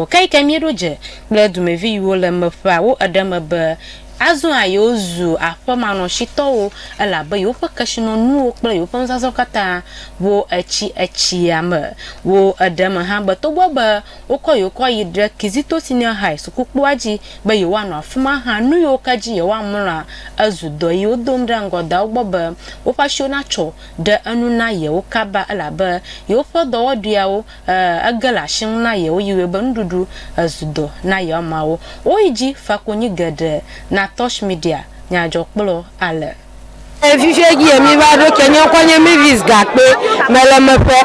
Ŋkɔ kae ke míeɖo dze kple dumevi yiwo le eme ƒea wo eɖe me be, Azɔa yewozu aƒemanɔsitɔwo, elabe yewoƒe kesinɔnuwo kple yewoƒe nuzazɔ katã ʋu etsi etsia me. Wo eɖe me hã be togbɔ be wokɔ yewo kɔ yi ɖe Kizito Senior High sukukpoa dzi be yewoanɔ afi ma hã, nu yiwo ke dzi yewoamlɔa ezu dɔ yi wodom ɖe ŋgɔ da wo gbɔ be woƒe asiwo natsɔ ɖe enu na yewo kaba elabe yewoƒe dɔwɔɖuiawo Ẽ, ege le asi ŋu na yewo yi wɔe be nuɖuɖu ezu dɔ na yewo ameawo. Woyi dzi fa konyi geɖe na Torch Media nyadzɔkplɔ ale. Ẽ, fifia dzi yɛ mí va ɖo ke. Nye ŋkɔ nye Mavis Gakpe. Mele meƒe.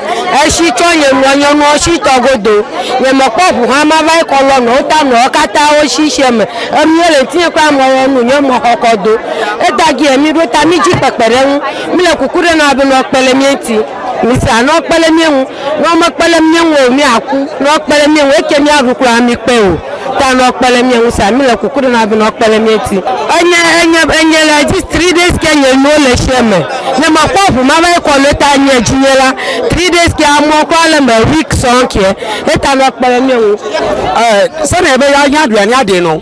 Eshi tsɔ nye nua nye nuwo shi tɔ godo. Nye me kpɔ ŋu hã ma va yi kɔ lɔ nɔwo ta nɔwo kata wo shi shiɛ me. Enu yɛ le ŋtinye kura mɔ yɛ nu nye mɔ xɔkɔ do. Eta dzi yɛ mí ɖo ta mí dzi kpekpeɖeŋu. Mí le kuku ɖe nɔ abe nɔ kpe le mía ŋti. Mise a, ne wokpe ɖe mía ŋu. Ne womekpe ɖe mía ŋu o, míaku. Ne wokpe ɖe mía ŋu, eke míaɖu kura amikpe o. Ta ne wokpe ɖe mía ŋu sa, míle kuku ɖem na wo be ne wokpe ɖe mía ŋuti. Enye, enye, enye le edzi three days ke nye nuwo le eshie me. Ne mekpɔ ŋu mava yi kɔ nu eta enye edzi nye la, three days ke amɔ kura le eme week sɔŋ ke. Eta ne wokpe ɖe mía ŋu. Ɛ, sene be ya, ya ɖu ya, ya ɖe nɔ.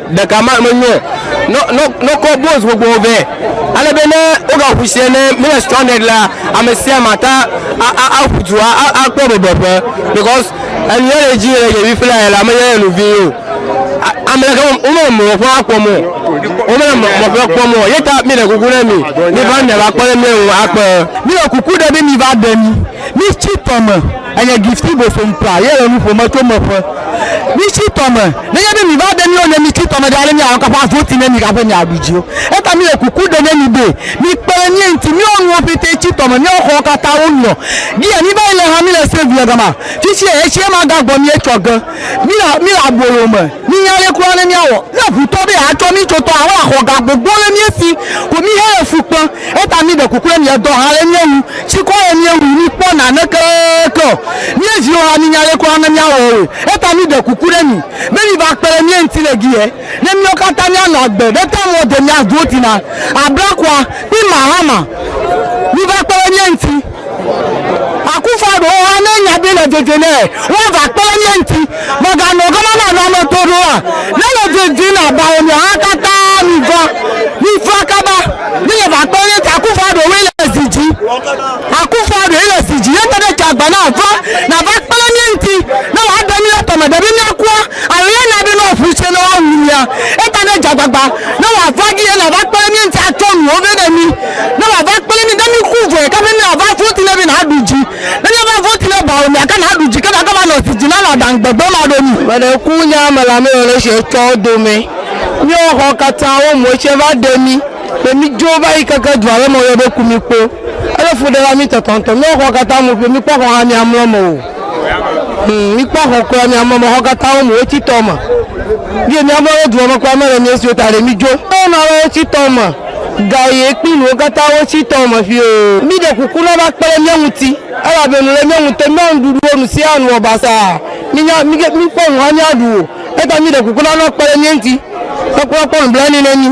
Ɖeka ma menyo nɔkɔ Boaz gbogbo o vɛ, ale be ne wogaƒu sia ne míle stranded la, ame sia ame ate ŋu aƒu du akpɔ bebeƒe because enu yele edzi le yevi ƒe la yela menye enu vi o. Amleke womele mɔƒe akpɔm o, womele mɔƒe kpɔm o. Ye ta míɖe kuku na mi miva miava kpɔ ne míawo akpe. Míɖe kuku ɖe be miva ɖe mi. Mitsi tɔ me, enye Gifty Bosom ta ye le nu ƒom etso emeƒe. Mitsi tɔ me, nenye be mi va ɖe mi o ne mitsi tɔ me ɖe ale mi anɔ kaka voti ne mi gaƒe mi aɖu dzi o. Eta mi le kuku ɖe ne mi be mi kpe ɖe mi ŋuti mi wɔ nuwo pɛtɛ tsi tɔ me mi wɔ xɔwo kata wo nɔ gi ya mi va yi le ha mi le save le gama fitsi eye tsi ema ga gbɔ mi etsɔ ge mi le mi le abolo me. Mínya ale kura ne míawɔ ne ŋu tɔ be yeatsɔ mí tso tɔa alo axɔ ga gbogbo le mía si ko míehe le fu kpem. Eya ta míɖe kuku ne míedɔ ha le mía ŋu. Tsikɔ ye míewui míekpɔ naneke ke o. Mía viwo hã mínya ale kura ne míawɔ wɔe. Eya ta míɖe kuku ɖe mi be miva kpe ɖe mía ŋuti le giɛ ne míawo katã míanɔ agbe ɖe ta mɔ de mía dotina Abrakua kple Mahama. Miva kpe ɖe mía ŋuti. Akufo ɖewo hã ne nya ɖi le didi nɛ woava kpe ɖe mía ŋuti. Mèganɔ gama na nane to ɖo oa? Ne le didi na bawo mia hã katã miva, mifla kaba ne yeva kpe ɖe mía ŋuti. Akufoa ɖewoe le zi dzi. Akufoa ɖewoe le zi dzi ne te ɖe dzeagba na va nava kpe ɖe mía ŋuti ne woaɖe mí le tɔme ɖe be míakua alo ne na be ne woaƒu tsɛ ne woawu mía. Eta ne dzeagbagba ne wòava dzi ye nava kpe ɖe mía ŋuti atsɔ nuwo vɛ ne mí. Ne wòava kple mí, ne míku vɔe ke be ne wòava voti ne mí naɖu dzi. Ne míava voti ne bawo mea ke naɖu dzi ke nake va nɔ zi dzi na nɔ aɖaŋ gbegbe ma ɖo mí. Mele ku nya me la me yɔle sia etsɔ wo dome. Míɔ xɔ katã wo mɔ etsɛ va ɖe mí be mí dzo va yi keke dua le mɔ yɔ be ku mí kpo. Ele fu ɖe la mí tɔtɔ ŋtɔ. Míɔ xɔ katã mu ƒio mí kpɔ xɔ hã mía mlɔ me o. Hum mí kpɔ xɔ kura mía mlɔ me xɔ katã wo mu wo tsi tɔ me. Vie mía mlɔ ɖe dua me kura me le mía siwo ta ɖe mí dzo. Míɔ nɔ ale wo tsi tɔ me. Ga ye kpli nuwo katã wotsi tɔ me ƒio. Mí ɖe kuku na va kpe ɖe mía ŋuti, elabe nu le mía ŋutɔ, mía nuɖuɖuwo nu siaa nu wɔ basaa, mí nya, mí ke, mí kpɔ nu hã mía ɖu o. Eyata mí ɖe kuku na nua kpe ɖe mía ŋuti, ne kura kpɔ nublanui ne mí.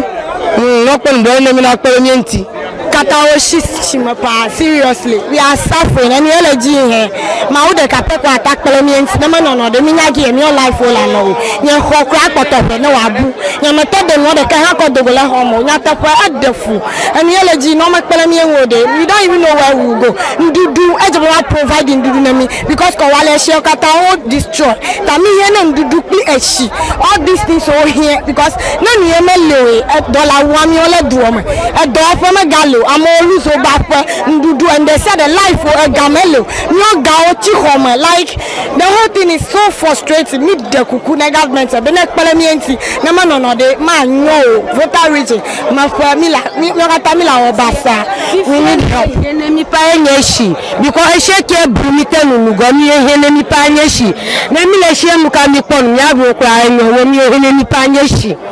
Humm, nua kpɔ nublanui ne mí na kpe ɖe mía ŋuti. Katã wo shi tsi me paa, seriously, we are suffering, enu ye le dzi yi hɛn. Mawu ɖeka pɛ kɔ ata kple mía ŋti, ne menɔ nɔ ɖe mínya gi yɛ míɔ life wo le anɔ o. Nye xɔ kura kpɔtɔ ŋɛ ne wa bu. Nye me tɔ de nuɔ ɖekɛ hã kɔ dogo le xɔ me o. Nyateƒe, e ɖe fu. Enu yɛ le ji nɔ me kple mía ŋu o ɖe, mi ɖo anyi mi no wɛ wu go. Ŋɖuɖu, e dze be wa provide ŋɖuɖu ne mi because kɔ wa le eshiɔ kata wo destroy. Ta mi hiɛ ne ŋɖuɖu kpli eshi. All these things wo hiɛ because ne nu yɛ me li o e dɔ la wua miɔ le duɔ me. Edɔwɔƒe me ga li o. Amewo lose wo be aƒe. Ŋɖuɖu and ɖe sia ɖe life o ega mele o míɔ gawo tsi xɔme like the whole thing is so frustrating mí ɖe kuku ne government be ne kple míɛ ŋti ne me nɔnɔ ɖe ma nyɔ o voter region me ƒe mí la míɔ kata mí la wɔ basaa we need help. Fifia nuyi he ne mí ƒe enye esi because esie ke blu mí te nu nugɔ nuyi he ne mí ƒe anye esi ne mí le esie nuka mí kpɔ nu mía ɖuwo kura enyɔ we nuyi he ne mí ƒe anye esi.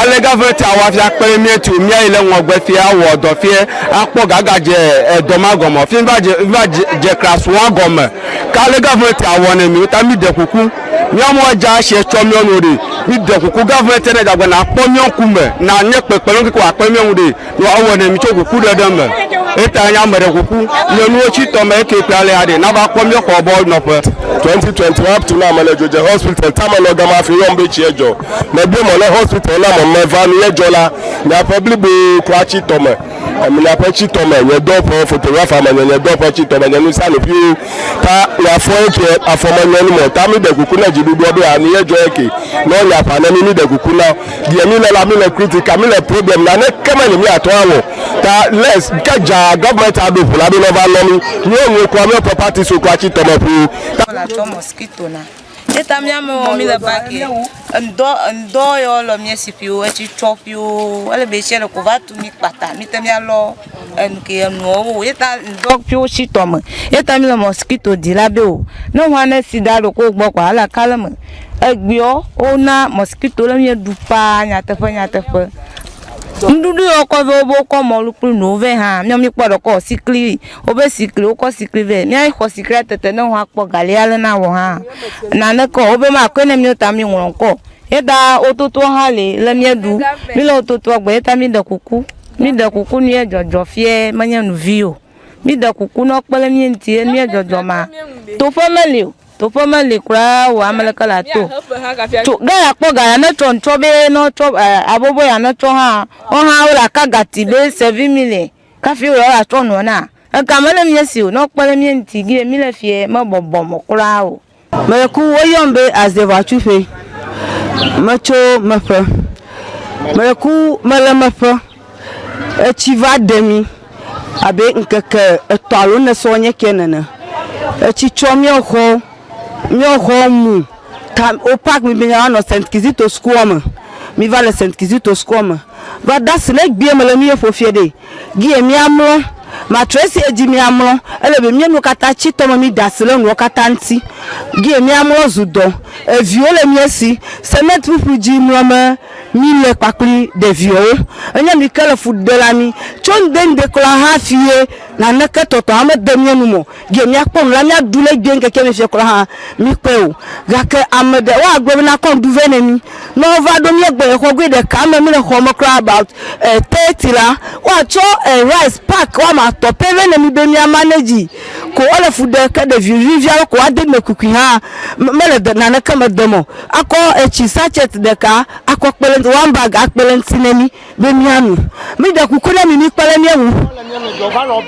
Ale gavmɛnti awɔ afia kple míetu míayi le ŋɔgbe fie awɔ dɔ fie akpɔ gaga dze edɔ ma gɔme fie va dze va dze dze krasua gɔme ke ale gavmɛnti awɔ ne mi wota mi de kuku míawo mo adza si etsɔ míawo nuwo ɖe mi de kuku gavmɛnti ne dagbe na kpɔ míawo ŋkume na nye kpekpe lɔ ŋkeke wa kpe míawo ŋu ɖe Nua wowɔ nɛ mi tso kuku ɖe ɖe me. Eta nye ame ɖe kuku nye nuwo tsi tɔ me eke kple alea ɖe nava kpɔ míɔ xɔ bɔ nɔƒe. 2020 up to now me le dzodze hospital tame nɔ gama hafi yɔm be tsiɛ dzɔ. Me biɔ mɔ ne hospital na mɔ me va nu ye dzɔ la nye ƒe blibo kura tsi tɔ me. Em nye ƒe tsi tɔ me nye dɔ ƒe photographer me nye nye dɔ ƒe tsi tɔ me nye nu sia nu ƒio ta nye afɔ eke afɔ me nye nu mɔ ta mi ɖe kuku ne dzi ɖuɖuɔ be a nu ye dzɔ eke nɔ nye aƒa ne mi mi ɖe kuku na Deɛ míle la, míle kritika, míle problem, naneke meli míatɔ awɔ. Ta les ke dzaa government aɖo ŋu la ɖo ne va lɔ mí. Míwo nuwo kura, míwo ƒe parties wo kura tsi tɔme ƒuu. Ta. Míle atɔ mosquito na. Ye ta mía amewo míle bague ŋdɔ ŋdɔ yɔ lɔ mía si ƒiwo etsi tsɔ ƒiwo. Ele be etsi le ko va tu mí kpata mí te mía lɔ. enu ke enuɔ wo ye ta ŋdɔ fi wo shi tɔme ye ta mi le mɔsikito di la be o ne ŋwa ne si da ɖo ko gbɔ kɔa ala kale me egbeɔ wo na mɔsikito le mi ɖu paa nyateƒe nyateƒe ŋɖuɖu yɔ kɔ vɛ wo be wo kɔ mɔlu kple nuwo vɛ hã mi mi kpɔ ɖe kɔ sikli wo be sikli wo kɔ sikli vɛ mi a xɔ siklia tete ne ŋwa kpɔ gali ya le na wɔ hã nane kɔ wo be ma kɔe ne mi ta mi ŋlɔ ŋkɔ ye ta wo toto hã li le mi ɖu mi le wo totoa gbɔ ye ta mi ɖe kuku Mi ɖe kuku nu ye dzɔdzɔ fie menye nu vi o. Mi ɖe kuku nɔ kpe le mi ŋuti ye nu ye dzɔdzɔ ma. Toƒe meli o. Toƒe meli kura o ame leke la to. To ga ya kpɔ ga ya ne tsɔ ŋtsɔ be nɔ tsɔ eh, abobo ya ne tsɔ hã wo hã wo la ka gati be sevi mi le kafi wo la tsɔ nɔ na. Ega mele mi si o nɔ kpe le mi ŋuti gi ye mi le fie me bɔbɔ mɔ kura o. Meku, woyɔm be azeʋatsuƒe, metso meƒe. Meku, mele meƒe, etsi va ɖe mí abe ŋkeke etɔ̃ alo ene sɔ nye ke nene. Etsi tsɔ míawo xɔwo, míawo xɔwo mu. Ta wo pak mí be mía va nɔ St. Kizito sukuɔ me. Mí va le St. Kizito sukuɔ me. Va de asi le egbea me le mí ye ƒo fiɖee. Gie míamlɔ. Matrɔ esi edzi míamlɔ. Ele be míenu katã tsi tɔme mída asi ɖe nuwo katã ŋuti. Gie míamlɔ zu dɔ. Eviwo le mía si. Semet ƒuƒlu dzi mlɔ me míle kpakpli ɖeviɔwo. Enye mi ke le fu ɖe la mí. Tso ŋde ŋde kura hafi ye naneke tɔtɔ hã mede mía nu me o. Ge míakpɔ nu la, míaɖu le egbee ŋkeke me fiɔ kura hã, míkpɔe o. Gake ame ɖe, woagblɔ be nakɔ ŋuɖu vɛ nɛ mí. Ne wova ɖo míagbɔ le xɔ goe ɖeka me, míle xɔ me kura about thirty la, woatsɔ rice pack woame atɔ̃ pɛ vɛ nɛ mí be mía manage ko ele fu ɖe ke ɖevi vivi aɖe ko ade eme kukui hã mele de naneke me dem o. Akɔ etsi sachet ɖeka akɔ kpe ɖe eŋuti, one bag akpe ɖe eŋuti ne mí. be mía nu. Mi ɖe kuku ne mi mi kpe ɖe mía ŋu.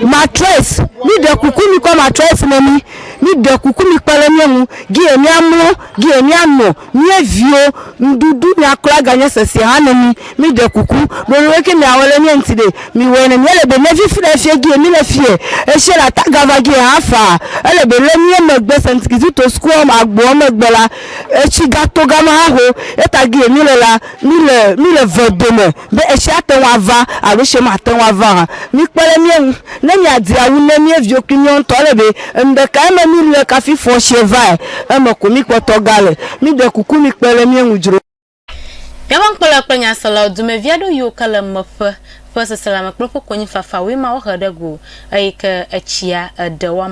Matress, mi ɖe kuku mi kɔ matress ne mi. Mi ɖe kuku mi kpe ɖe mía ŋu. Gie mía mlɔ, gie mía nɔ. Mía viwo, ŋɖuɖu mía klɔ aga nye sese hã ne mi. Mi ɖe kuku. Ɖo nu ke mia wɔ ɖe mía ŋuti ɖe? Mi wɔe ne mía le be ne fifi ɖe fie gie mi le fie. Eshie la ta gava gie hã faa. Ele be le mía megbe Saint Kizito School agboa megbe la, etsi ga to gama hã ho. Eta gie mi le la. Míle, míle ve dome be etsia ate ŋu ava alo etsia mate ŋu ava hã. Míkpe ɖe mía ŋu. Ne míadi awu ne mía viwo kple míawo ŋutɔ, ele be enuɖekae me míle kafi fɔ tsia vae, eme ko míkpɔtɔ gale. Míɖe kuku mikpe ɖe mía ŋu dzro. Míaƒe nukpɔlawo kple nyaselawo dumevi aɖewo yiwo ke le meƒe ƒe seselãme kple ƒe konyifafawoe ma wohe ɖe go, eye ke etsia eɖe woame.